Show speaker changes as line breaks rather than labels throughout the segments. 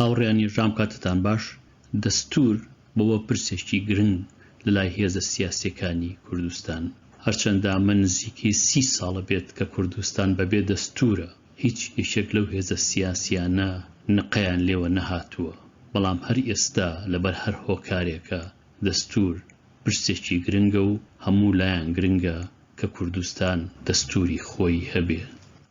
هاوڕێیان یەکجام کاتتان باش، دەستوور بووە پرسێکی گرنگ لەلای هێزە سیاسییەکانی کوردستان، هەرچەندە ئەمە نزیکەی سی ساڵە بێت کە کوردستان بەبێ دەستوورە، هیچ یەکێک لەو هێزە سیاسییانە نقەیان لێوە نەهاتووە، بەڵام هەر ئێستا لەبەر هەر هۆکارێکە دەستوور پرسێکی گرنگە و هەموو لایان گرنگە کە کوردستان دەستووری خۆی هەبێ،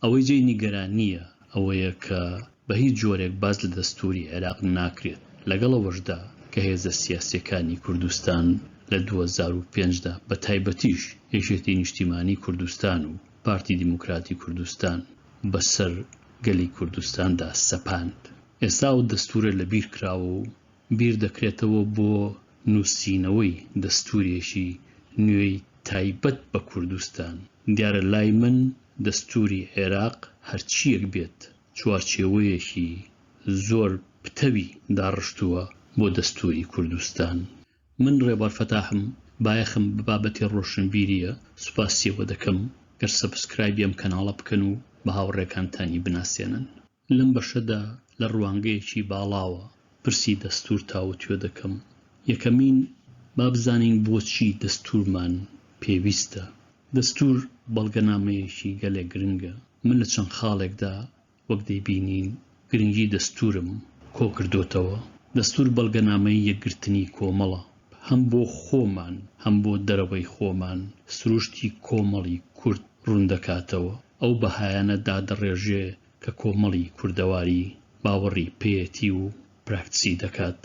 ئەوەی جێی نیگەرانییە، ئەوەیە کە بە هیچ جۆرێک باس لە دەستووری عێراق ناکرێت، لەگەڵ ئەوەشدا کە هێزە سیاسییەکانی کوردستان لە دوو هەزار و پێنج دا بە تایبەتیش یەکێتی نیشتیمانی کوردستان و پارتی دیموکراتی کوردستان بە سەر گەلی کوردستاندا سەپاند ئێستا ئەو دەستوورە لە بیر کراوە و بیر دەکرێتەوە بۆ نووسینەوەی دەستوورێکی نوێی تایبەت بە کوردستان. دیارە لای من دەستووری عێراق هەرچییەک بێت چوارچێوەیەکی زۆر پتەوی داڕشتووە بۆ دەستووری کوردستان. من ڕێبوار فەتاحم بایەخم بە بابەتی ڕۆشنبیرییە، سوپاسی ئەوە دەکەم گەر سەبسکرایبی ئەم کەناڵە بکەن و بە هاوڕێکانتانی بناسێنن. لەم بەشەدا لە ڕوانگەیەکی باڵاوە پرسی دەستوور تاوتوێ دەکەم. یەکەمین، با بزانین بۆچی دەستوورمان پێویستە؟ دەستوور بەڵگەنامەیەکی گەلێک گرنگە. من لە چەند خاڵێکدا وەک دەیبینین گرنگی دەستوورم کۆ کردۆتەوە. دەستوور بەڵگەنامەی یەکگرتنی کۆمەڵە. هەم بۆ خۆمان هەم بۆ دەرەوەی خۆمان سروشتی کۆمەڵی کورد ڕوون دەکاتەوە. ئەو بەهایانە دادەڕێژێ کە کۆمەڵی کوردەواری باوەڕی پێیەتی و پراکتسی دەکات،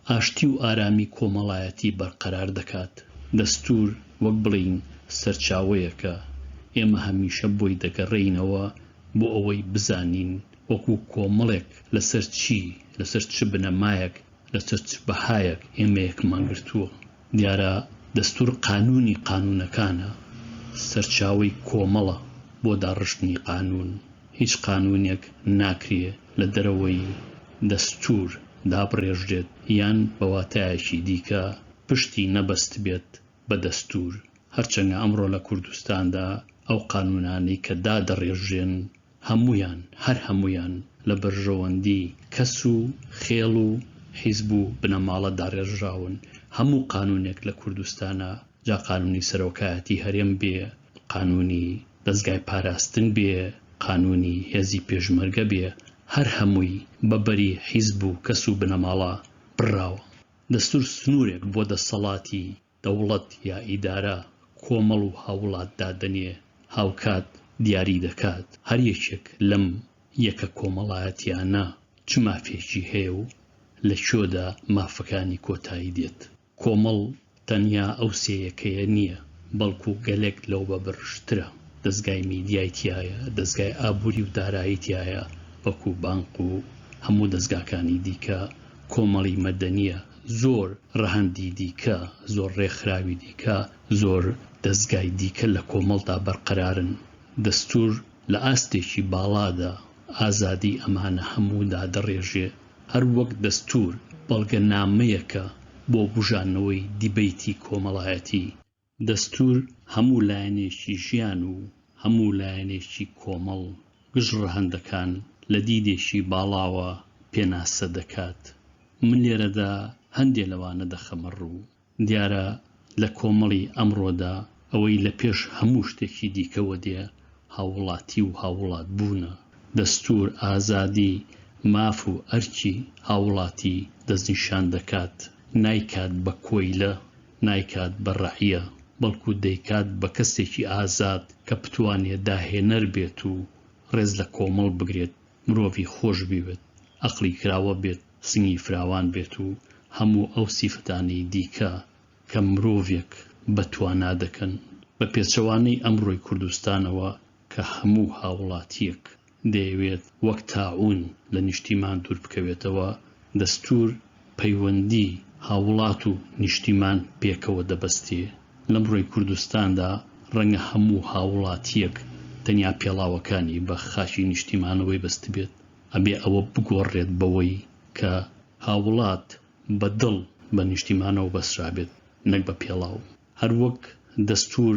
ئاشتی و ئارامی کۆمەڵایەتی بەرقەرار دەکات، دەستوور وەک بڵێین سەرچاوەیەکە، ئێمە هەمیشە بۆی دەگەڕێینەوە بۆ ئەوەی بزانین وەکو کۆمەڵێک لەسەر چی، لەسەر چ بنەمایەک، لەسەر چ بەهایەک ئێمە یەکمان گرتووە، دیارە دەستور قانونی قانونەکانە، سەرچاوەی کۆمەڵە بۆ داڕشتنی قانون، هیچ قانونێک ناکرێ لە دەرەوەی دەستور دابڕێژرێت یان بە واتایەکی دیکە پشتی نەبەستبێت بە دەستور، هەرچەنگە ئەمڕۆ لە کوردستاندا ئەو قانونانەی کە دادەڕێژرێن هەموویان، هەر هەموویان لە بەرژەوەندی کەس و خێڵ و حیزب و بنەماڵە داڕێژراون، هەموو قانوونێک لە کوردستانا، جا قانوونی سەرۆکایەتی هەرێم بێ، قانوونی دەزگای پاراستن بێ، قانوونی هێزی پێشمەرگە بێ، هەر هەمووی بە بەری حیزب و کەس و بنەماڵە بڕراوە. دەستوور سنوورێک بۆ دەستەڵاتی دەوڵەت یا ئیدارە کۆمەڵ و هاووڵات دادەنێ، هاوکات دیاری دەکات هەر یەکێک لەم یەکە کۆمەڵایەتییانە چ مافێکی هەیە و لە کوێدا مافەکانی کۆتایی دێت. کۆمەڵ تەنیا ئەو سێ یەکەیە نییە، بەڵکو گەلێک لەو بە بەرژترە، دەزگای میدیای تیایە، دەزگای ئابووری و دارایی تیایە وەکو بانک و هەموو دەزگاکانی دیکە، کۆمەڵی مەدەنییە زۆر، ڕەهەندی دیکە، زۆر ڕێکخراوی دیکە، زۆر دەزگای دیکە لە کۆمەڵدا بەرقەرارن. دەستوور لە ئاستێکی باڵادا ئازادیی ئەمانە هەموو دادەڕێژێ. هەر وەک دەستوور بەڵگەنامەیەکە بۆ بووژانەوەی دیبەیتی کۆمەڵایەتی. دەستوور هەموو لایەنێکی ژیان و هەموو لایەنێکی کۆمەڵ گژ ڕەهەندەکان لە دیدێکی باڵاوە پێناسە دەکات. من لێرەدا هەندێ لەوانە دەخەمە ڕوو. دیارە لە کۆمەڵی ئەمڕۆدا ئەوەی لە پێش هەموو شتێکی دیکەوە دێ هاووڵاتی و هاووڵات بوونە. دەستوور ئازادی، ماف و ئەرکی هاووڵاتی دەستنیشان دەکات، نایکات بە کۆیلە. نایکات بە ڕەعیە، بەڵکو دەیکات بە کەسێکی ئازاد کە بتوانێت داهێنەر بێت و ڕێز لە کۆمەڵ بگرێت، مرۆڤی خۆش بیوێت، ئەقڵی کراوە بێت، سنگی فراوان بێت و هەموو ئەو سیفەتانەی دیکە کە مرۆڤێک بە توانا دەکەن، بە پێچەوانەی ئەمڕۆی کوردستانەوە کە هەموو هاوڵاتییەک دەیەوێت وەک تاعوون لە نیشتیمان دوور بکەوێتەوە، دەستوور پەیوەندی هاووڵات و نیشتیمان پێکەوە دەبەستێ، لەمڕۆی کوردستاندا ڕەنگە هەموو هاووڵاتییەک تەنیا پێڵاوەکانی بە خاکی نیشتیمانەوەی بەستبێت، ئەبێ ئەوە بگۆڕرێت بەوەی کە هاووڵات بە دڵ بە نیشتیمانەوە بەسترابێت نەک بە پێڵاو، هەروەک دەستوور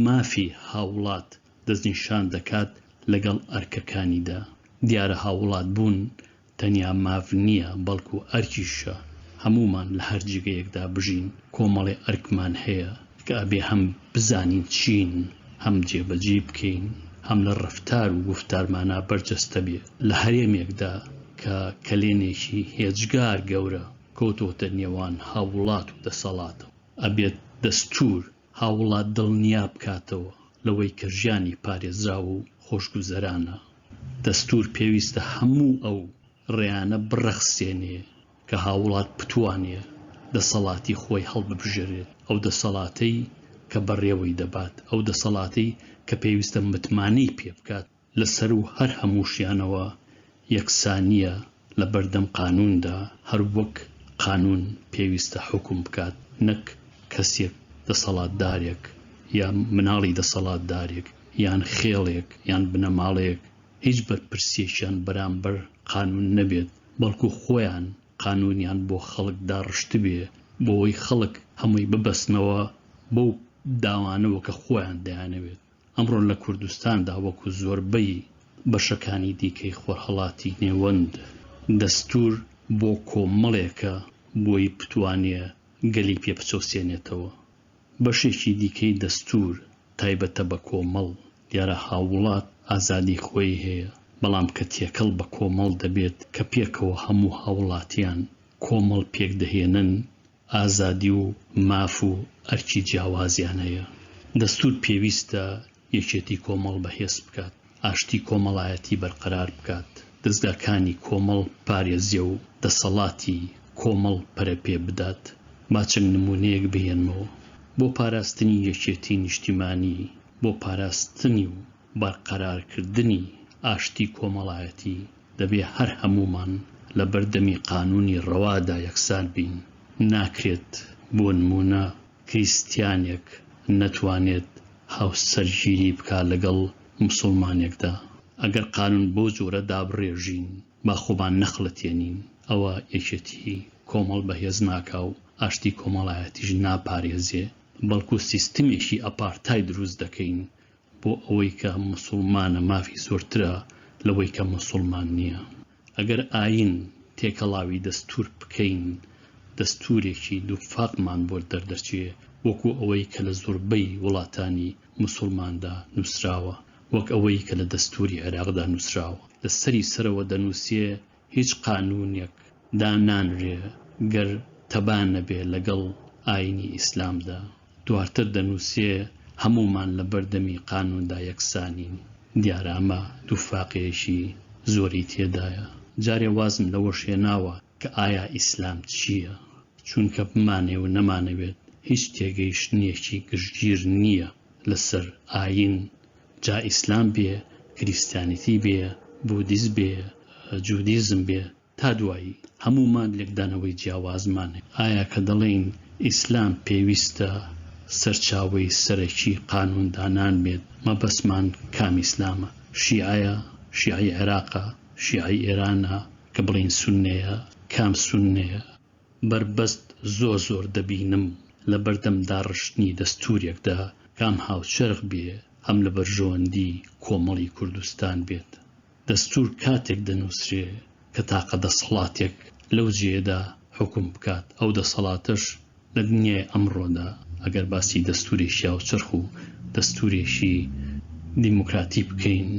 مافی هاووڵات دەستنیشان دەکات لەگەڵ ئەرکەکانیدا. دیارە هاووڵات بوون تەنیا ماف نییە، بەڵکو ئەرکیشە. هەموومان لە هەر جێگەیەکدا بژین، کۆمەڵێ ئەرکمان هەیە کە ئەبێ هەم بزانین چین، هەم جێبەجێی بکەین، هەم لە ڕەفتار و گوفتارمانا بەرجەستە بێ. لە هەرێمێکدا کە کەلێنێکی هێجگار گەورە کەوتۆتە نێوان هاووڵات و دەسەڵاتەوە، ئەبێت دەستوور، هاووڵات دڵنیا بکاتەوە لەوەی کە ژیانی پارێزراو و خۆشگوزەرانە. دەستوور پێویستە هەموو ئەو ڕێیانە بڕەخسێنێ کە هاووڵات بتوانێ دەسەڵاتی خۆی هەڵببژێرێت، ئەو دەسەڵاتەی کە بەڕێوەی دەبات، ئەو دەسەڵاتەی کە پێویستە متمانەی پێ بکات، لە سەروو هەر هەمووشیانەوە یەکسانییە لە بەردەم قانووندا، هەر وەک قانوون پێویستە حوکم بکات نەک کەسێک دەسەڵاتدارێک یا مناڵی دەسەڵاتدارێک یان خێڵێک یان بنەماڵەیەک هیچ بەرپرسیەکیان بەرامبەر قانوون نەبێت بەڵکو خۆیان قانوونیان بۆ خەڵک داڕشتبێ بۆوەی خەڵک هەمووی ببەستنەوە بەو داوانەوە کە خۆیان دەیانەوێت. ئەمڕۆ لە کوردستاندا وەکو زۆربەی بەشەکانی دیکەی خۆرهەڵاتی نێوەند، دەستوور بۆ کۆمەڵێکە بۆی بتوانێ گەلی پێ بچەوسێنێتەوە. بەشێکی دیکەی دەستوور تایبەتە بە کۆمەڵ، دیارە هاووڵات ئازادی خۆی هەیە، بەڵام کە تێکەڵ بە کۆمەڵ دەبێت کە پێکەوە هەموو هاووڵاتیان کۆمەڵ پێکدەهێنن ئازادی و ماف و ئەرکی جیاوازیان هەیە. دەستوور پێویستە یەکێتی کۆمەڵ بەهێز بکات، ئاشتی کۆمەڵایەتی بەرقەرار بکات، دەزگاکانی کۆمەڵ بپارێزێ و دەسەڵاتی کۆمەڵ پەرەپێ بدات. با چەند نموونەیەک بهێنمەوە بۆ پاراستنی یەکێتی نیشتیمانی، بۆ پاراستنی و. بەرقەرارکردنی ئاشتی کۆمەڵایەتی، دەبێ هەر هەموومان لە بەردەمی قانوونی ڕەوادا یەکسان بین. ناکرێت بۆ نموونە کریستیانێک نەتوانێت هاوسەرگیری بکا لەگەڵ موسوڵمانێکدا. ئەگەر قانوون بەو جۆرە دابڕێژین با خۆمان نەخڵەتێنین، ئەوە یەکێتی کۆمەڵ بەهێز ناکا و ئاشتی کۆمەڵایەتیش ناپارێزێ، بەڵکوو سیستمێکی ئەپارتای دروست دەکەین بۆ ئەوەی کە موسوڵمانە مافی زۆرترە لەوەی کە موسوڵمان نییە. ئەگەر ئایین تێکەڵاوی دەستوور بکەین دەستوورێکی دووفاقمان بۆ دەردەچێ وەکو ئەوەی کە لە زۆربەی وڵاتانی موسوڵماندا نووسراوە، وەک ئەوەی کە لە دەستووری عێراقدا نووسراوە لە سەری سەرەوە دەنووسێ هیچ قانوونێک دا نانرێ گەر تەبا نەبێ لەگەڵ ئایینی ئیسلامدا. دوارتر دەنووسێ هەموومان لە بەردەمی قانووندا یەکسانین. دیارە ئەمە دووفاقێیەکی زۆری تێدایە. جارێ وازم لەوەش هێناوە کە ئایا ئیسلام چییە؟ چونکە بمانەوێ و نەمانەوێت هیچ تێگەیشتنێکی گشتگیر نییە لە سەر ئایین جا ئیسلام بێ کریستیانیتی بێ بودیس بێ جودیزم بێ تا دوایی هەموومان لێکدانەوەی جیاوازمان هەیە ئایا کە دەڵێین ئیسلام پێویستە سەرچاوەی سەرەکی قانون دانان بێت مەبەستمان کام ئیسلامە شیعەیە شیعەی عێراقە شیعەی ئێرانە کە بڵێین سوننەیە کام سوننەیە بەربەست زۆر زۆر دەبینم لە بەردەم داڕشتنی دەستوورێکدا کام هاوچەرخ بێ هەم لە بەرژەوەندی کۆمەڵی کوردستان بێت دەستوور کاتێک دەنووسرێ کە تاقە دەسەڵاتێک لەو جێیەدا حوکم بکات ئەو دەسەڵاتەش لە دنیای ئەمڕۆدا ئەگەر باسی دەستوورێکی هاوچەرخ و دەستوورێکی دیموکراتی بکەین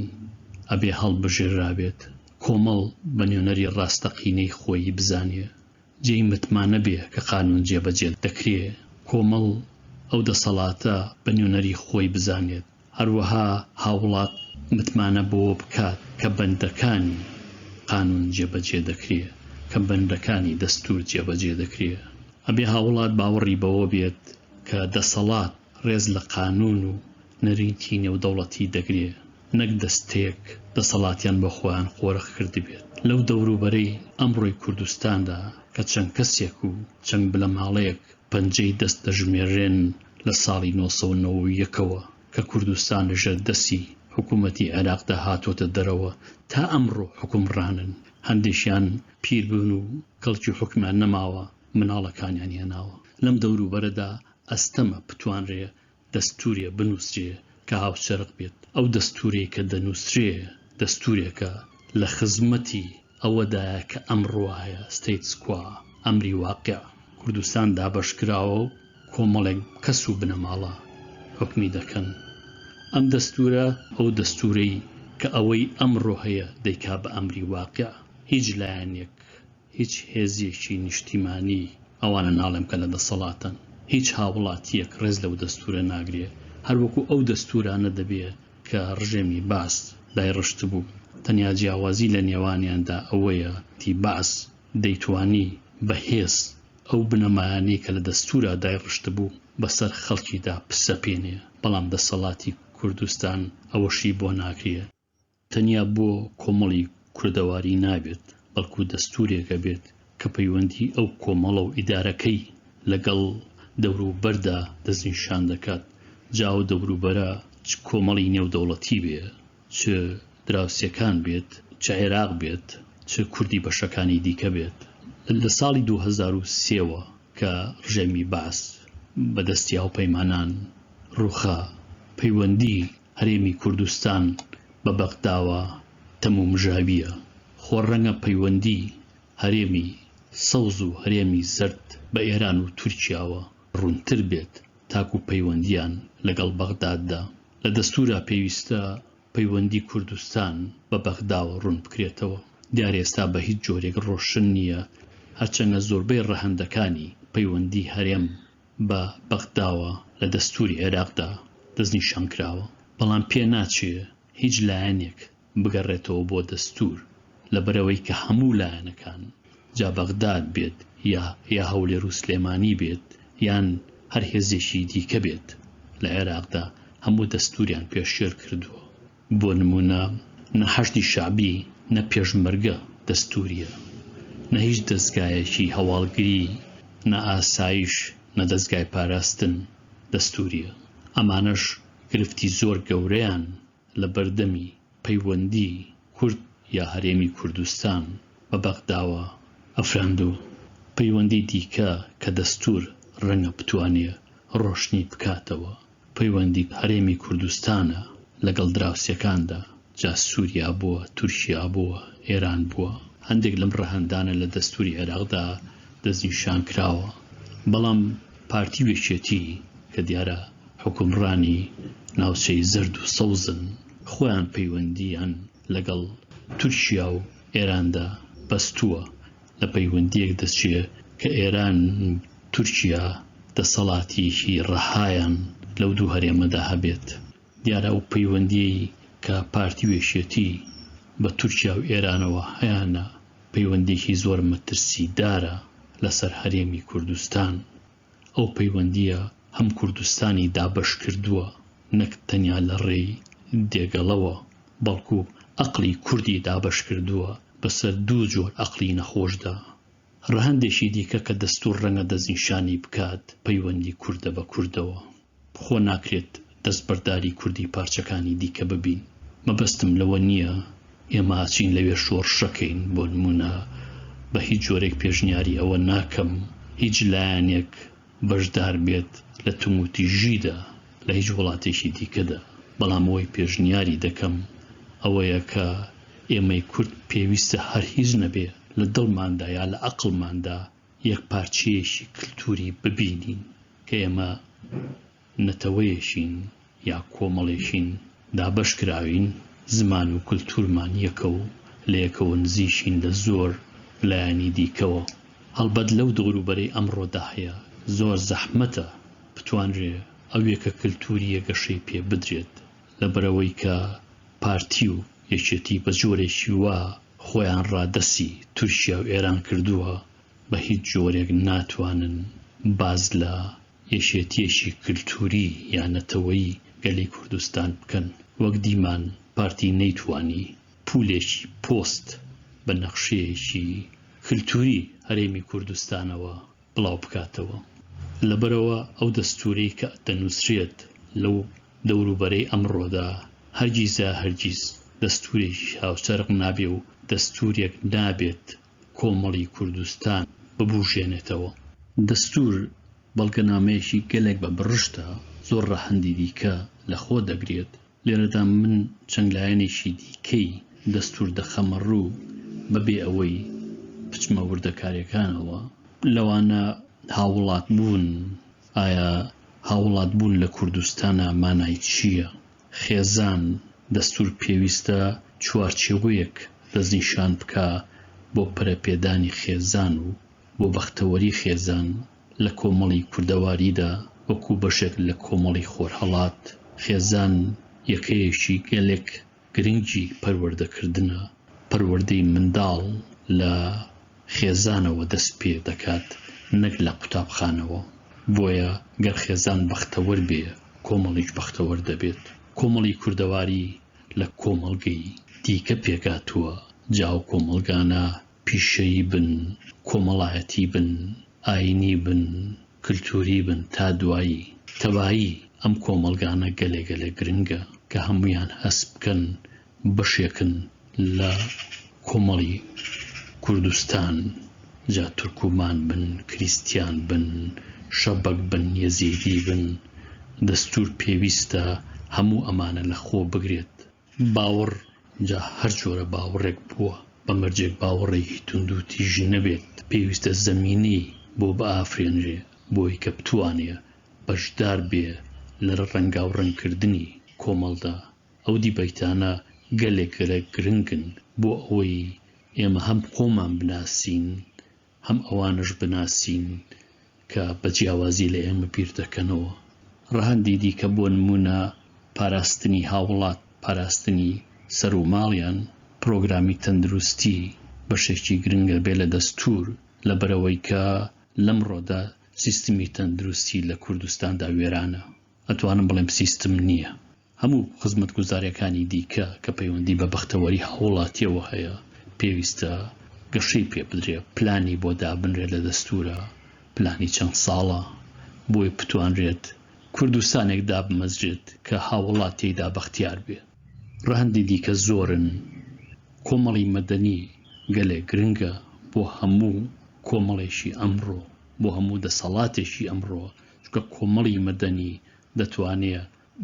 ئەبێ هەڵبژێررابێت کۆمەڵ بە نوێنەری ڕاستەقینەی خۆیی بزانێ، جێی متمانە بێ کە قانوون جێبەجێ دەکرێ، کۆمەڵ ئەو دەسەڵاتە بە نوێنەری خۆی بزانێت، هەروەها هاوڵات متمانە بەوە بکات کە بەندەکانی قانوون جێبەجێ دەکرێ، کە بەندەکانی دەستوور جێبەجێ دەکرێ. ئەبێ هاوڵات باوەڕی بەوە بێت کە دەسەڵات ڕێز لە قانوون و نەریتی نێودەوڵەتی دەگرێ. نەک دەستێک دەسەڵاتیان بۆ خۆیان قۆرخ کردبێت. لەو دەوروبەرەی ئەمڕۆی کوردستاندا کە چەند کەسێک و چەند بنەماڵەیەک پەنجەی دەست دەژمێررێن لە ساڵی نۆ سەد و نەوەد و یەک ەوە کە کوردستان لە ژێر دەستی حکوومەتی عێراقدا هاتووەتە دەرەوە تا ئەمڕۆ حوکمڕانن، هەندێکیان پیر بوون و کەڵکی حوکمیان نەماوە، مناڵەکانیان هێناوە. لەم دەوروبەرەدا ئەستەمە بتوانرێ دەستوورێ بنووسرێ کە هاوچەرخ بێت، ئەو دەستوورەی کە دەنووسرێ دەستوورێکە لە خزمەتی ئەوەدایە کە ئەمڕوایە، ستەیتس کوا، ئەمری واقع، کوردستان دابەش کراوە و کۆمەڵێک کەس و بنەماڵە حوکمی دەکەن. ئەم دەستوورە، ئەو دەستوورەی کە ئەوەی ئەمڕۆ هەیە دەیکا بە ئەمری واقع، هیچ لایەنێک، هیچ هێزیەکی نیشتیمانی، ئەوانە ناڵێم کە لە دەسەڵاتەن، هیچ هاووڵاتیەک ڕێز لەو دەستوورە ناگرێ، هەر وەکوو ئەو دەستوورانە دەبێ کە ڕژێمی بەعس دایڕشتبوو، تەنیا جیاوازی لە نێوانیاندا ئەوەیە تی بەعس دەیتوانی بە هێز ئەو بنەمایانەی کە لە دەستوورا دایڕشتبوو بە سەر خەڵکیدا بسەپێنێ، بەڵام دەسەڵاتی کوردستان ئەوەشی بۆ ناکرێ. تەنیا بۆ کۆمەڵی کوردەواری نابێت، بەڵکو دەستورێک ئەبێت کە پەیوەندی ئەو کۆمەڵەو ئیدارەکەی لەگەڵ دەوروبەردا دەستنیشان دەکات، جا ئەو دەوروبەرە چ کۆمەڵی نێودەوڵەتی بێ، چ دراوسێکان بێت، چ عێراق بێت، چ کوردی بەشەکانی دیکە بێت. لە ساڵی دوو هەزار و سێ وە کە ڕژێمی بەعس بەدەستی هاوپەیمانان ڕوخا، پەیوەندی هەرێمی کوردستان بە بەغداوە تەمومژاوییە، خۆ ڕەنگە پەیوەندی هەرێمی سەوز و هەرێمی زەرد بە ئێران و تورکیاوە ڕوونتر بێت تاکو پەیوەندییان لەگەڵ بەغداددا. لە دەستوورا پێویستە پەیوەندی کوردستان بە بەغداوە ڕوون بکرێتەوە. دیارە ئێستا بە هیچ جۆرێک ڕۆشن نییە، هەرچەندە زۆربەی ڕەهەندەکانی پەیوەندی هەرێم بە بەغداوە لە دەستووری عێراقدا دەستنیشان کراوە، بەڵام پێ ناچێ هیچ لایەنێک بگەڕێتەوە بۆ دەستوور، لەبەرئەوەی کە هەموو لایەنەکان، جا بەغداد بێت یا یا هەولێر و سلێمانی بێت یان هەر هێزێکی دیکە بێت لە عێراقدا، هەموو دەستووریان پێشێل کردووە. بۆ نموونە نە حەشدی شەعبی نە پێشمەرگە دەستوورییە، نە هیچ دەزگایەکی هەواڵگری، نە ئاسایش، نە دەزگای پاراستن دەستوورییە. ئەمانەش گرفتی زۆر گەورەیان لە بەردەمی پەیوەندی کورد یا هەرێمی کوردستان بە بەغداوە ئەفراند و پەیوەندی دیکە کە دەستوور ڕەنگە بتوانێ ڕۆشنی بکاتەوە. پەیوەندی هەرێمی کوردستانە لەگەڵ دراوسێکاندا، جا سووریا بووە، تورکیا بووە، ئێران بووە. هەندێک لەم ڕەهەندانە لە دەستووری عێراقدا دەستنیشان کراوە، بەڵام پارتی و یەکێتی کە دیارە حوکمڕانی ناوچەی زەرد و سەوزن، خۆیان پەیوەندییان لەگەڵ تورکیا و ئێراندا بەستووە لە پەیوەندییەک دەچێ کە ئێران و تورکیا دەسەڵاتییەکی ڕەهایان لەو دوو هەرێمەدا هەبێت. دیارە ئەو پەیوەندییەی کە پارتی و یەکێتی بە تورکیا و ئێرانەوە هەیانە، پەیوەندییەکی زۆر مەترسیدارە لەسەر هەرێمی کوردستان. ئەو پەیوەندییە هەم کوردستانی دابەش کردووە نەک تەنیا لە ڕێی دێگەڵەوە، بەڵکو ئەقڵی کوردی دابەش کردووە بەسەر دوو جۆر ئەقڵی نەخۆشدا. ڕەهەندێکی دیکە کە دەستوور ڕەنگە دەستنیشانی بکات پەیوەندی کوردە بە کوردەوە. خۆ ناکرێت دەستبەرداری کوردی پارچەکانی دیکە ببین، مەبەستم لەوە نییە ئێمە ئەچین لەوێ شۆڕشەکەین، بۆ نموونە بە هیچ جۆرێک پێشنیاری ئەوە ناکەم هیچ لایەنێک بەشدار بێت لە توموتیژیدا لە هیچ وڵاتێکی دیکەدا، بەڵام ئەوەی پێشنیاری دەکەم ئەوەیە کە ئێمەی کورد پێویستە هەر هیچ نەبێ لە دڵماندا یا لە ئەقڵماندا یەکپارچەیەکی کلتوری ببینین کە ئێمە نەتەوەیەکین یا کۆمەڵێکین دابەش کراوین زمان و کلتورمان یەکە و لە یەکەوە نزیکین لە زۆر لایەنی دیکەوە هەڵبەت لەو دەوروبەرەی ئەمڕۆدا هەیە زۆر زەحمەتە بتوانرێ ئەو یەکە کلتورییە گەشەی پێ بدرێت لەبەرئەوەی کە پارتی و یەکێتی بە جۆرێکی وا خۆیان ڕادەسی تورکیا و ئێران کردووە بە هیچ جۆرێک ناتوانن باس لە یەکێتیەکی کلتوری یا نەتەوەی گەلی کوردستان بکەن وەک دیمان پارتی نەیتوانی پولێکی پۆست بە نەخشەیەکی کلتوری هەرێمی کوردستانەوە بڵاو بکاتەوە لەبەرئەوە ئەو دەستورەی کە دەنوسرێت لەو دەوروبەرەی ئەمڕۆدا هەرگیزا هەرگیز دەستورێکی هاوچەرخ نابێ و دەستورێک نابێت کۆمەڵی کوردستان ببوژێنێتەوە. دەستور بەڵگەنامەیەکی گەلێک بە بڕشتە، زۆر ڕەهەندی دیکە لە خۆ دەگرێت، لێرەدا من چەند لایەنێکی دیکەی دەستوور دەخەمە ڕوو بەبێ ئەوەی بچمە وردەکارییەکانەوە، لەوانە هاووڵاتبوون، ئایا هاووڵاتبوون لە کوردستانا مانای چییە؟ خێزان، دەستوور پێویستە چوارچێوەیەک دەستنیشان بکا بۆ پەرەپێدانی خێزان و بۆ بەختەوەری خێزان، لە کۆمەڵی کوردەواریدا وەکوو بەشێک لە کۆمەڵی خۆرهەڵات، خێزان یەکەیەکی گەلێک گرنگی پەروەردەکردنە، پەروەردەی منداڵ لە خێزانەوە دەست پێ دەکات نەک لە قوتابخانەوە، بۆیە گەر خێزان بەختەوەر بێ کۆمەڵیش بەختەوەر دەبێت. کۆمەڵی کوردەواری لە کۆمەڵگەی دیکە پێکهاتووە، جا ئەو کۆمەڵگانە پیشەیی بن، کۆمەڵایەتی بن، ئایینی بن، کلتووری بن تا دوایی، تەبایی ئەم کۆمەڵگانە گەلێ گەلێ گرنگە کە هەموویان هەست بکەن بەشێکن لە کۆمەڵی کوردستان جا تورکومان بن، کریستیان بن، شەبەک بن، یەزیدی بن، دەستوور پێویستە هەموو ئەمانە لە خۆ بگرێت. باوەڕ جا هەر جۆرە باوەڕێک بووە، بە مەرجێک باوەڕێکی توندو تیژ نەبێت، پێویستە زەمینەی بۆ بئافرێنرێ بۆی کە بتوانێ بەشدار بێ لە رەنگاو رەنگ کردنی کۆمەڵدا، ئەو دیبەیتانە گەلێک گەلێک گرنگن بۆ ئەوەی ئێمە هەم خۆمان بناسین هەم ئەوانەش بناسین کە بە جیاوازی لە ئێمە بیر دەکەنەوە. ڕەهەندی دیکە بۆ نموونە پاراستنی هاوڵات، پاراستنی سەر و ماڵیان، پرۆگرامی تەندروستی بەشێکی گرنگە بێ لە دەستوور، لەبەرئەوەی کە لەمڕۆدا سیستمی تەندروستی لە کوردستاندا وێرانە. ئەتوانم بڵێم سیستم نییە. هەموو خزمەتگوزاریەکانی دیکە کە پەیوەندی بە بەختەوەری هاووڵاتیەوە هەیە پێویستە گەشەی پێ بدرێ، پلانی بۆ دابنرێ لە دەستوورا، پلانی چەند ساڵە بۆی بتوانرێت کوردستانێک دابمەزرێت کە هاووڵات تێیدا بەختیار بێ. ڕەهەندی دیکە زۆرن. کۆمەڵی مەدەنی گەلێک گرنگە بۆ هەموو کۆمەڵێکی ئەمڕۆ، بۆ هەموو دەسەڵاتێکی ئەمڕۆ چونکە کۆمەڵی مەدەنی دەتوانێ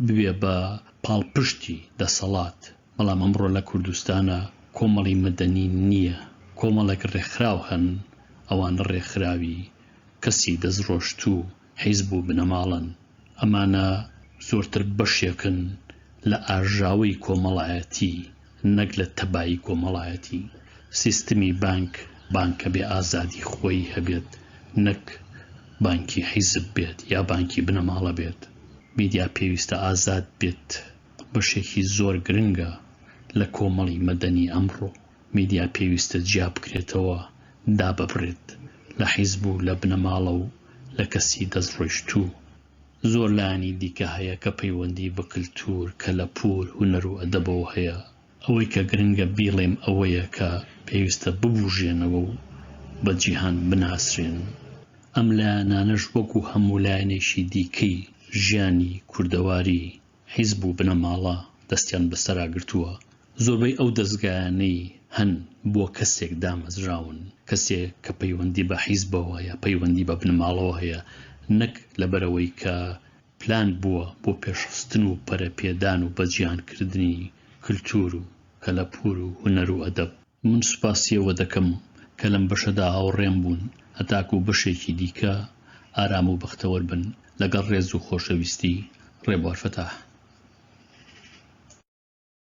ببێ بە پاڵپشتی دەسەڵات، بەڵام ئەمڕۆ لە کوردستانا کۆمەڵی مەدەنی نییە، کۆمەڵێک ڕێکخراو هەن، ئەوانە ڕێکخراوی کەسی دەستڕۆشتوو، حیزب و بنەماڵەن، ئەمانە زۆرتر بەشێکن لە ئاژاوەی کۆمەڵایەتی، نەک لە تەبایی کۆمەڵایەتی، سیستمی بانک بانکە بێ ئازادی خۆیی هەبێت نەک بانکی حیزب بێت یا بانکی بنەماڵە بێت، میدیا پێویستە ئازاد بێت بەشێکی زۆر گرنگە لە کۆمەڵی مەدەنی ئەمڕۆ، میدیا پێویستە جیا بکرێتەوە داببرێت لە حیزب و لە بنەماڵە و لە کەسی دەست ڕۆیشتوو، زۆر لایەنی دیکە هەیە کە پەیوەندی بە کلتور، کەلەپور، هونەر و ئەدەبەوە هەیە. ئەوەی کە گرنگە بیڵێم ئەوەیە کە پێویستە ببوژێنەوە و بە جیهان بناسرێن. ئەم لایەنانەش وەکو هەموو لایەنێکی دیکەی ژیانی کوردەواری حیزب و بنەماڵە دەستیان بەسەرا گرتووە، زۆربەی ئەو دەزگایانەی هەن بۆ کەسێک دامەزراون، کەسێک کە پەیوەندی بە حیزبەوە یا پەیوەندی بە بنەماڵەوە هەیە، نەک لەبەرئەوەی کە پلان بووە بۆ پێشخستن و پەرەپێدان و بەجیهانکردنی کلتور و کەلەپور و هونەر و ئەدەب. من سوپاسی ئەوە دەکەم کە لەم بەشەدا هاوڕێم بوون، هەتاکوو بەشێکی دیکە ئارام و بەختەوەر بن، لەگەڵ ڕێز و خۆشەویستی، ڕێبوار فەتاح.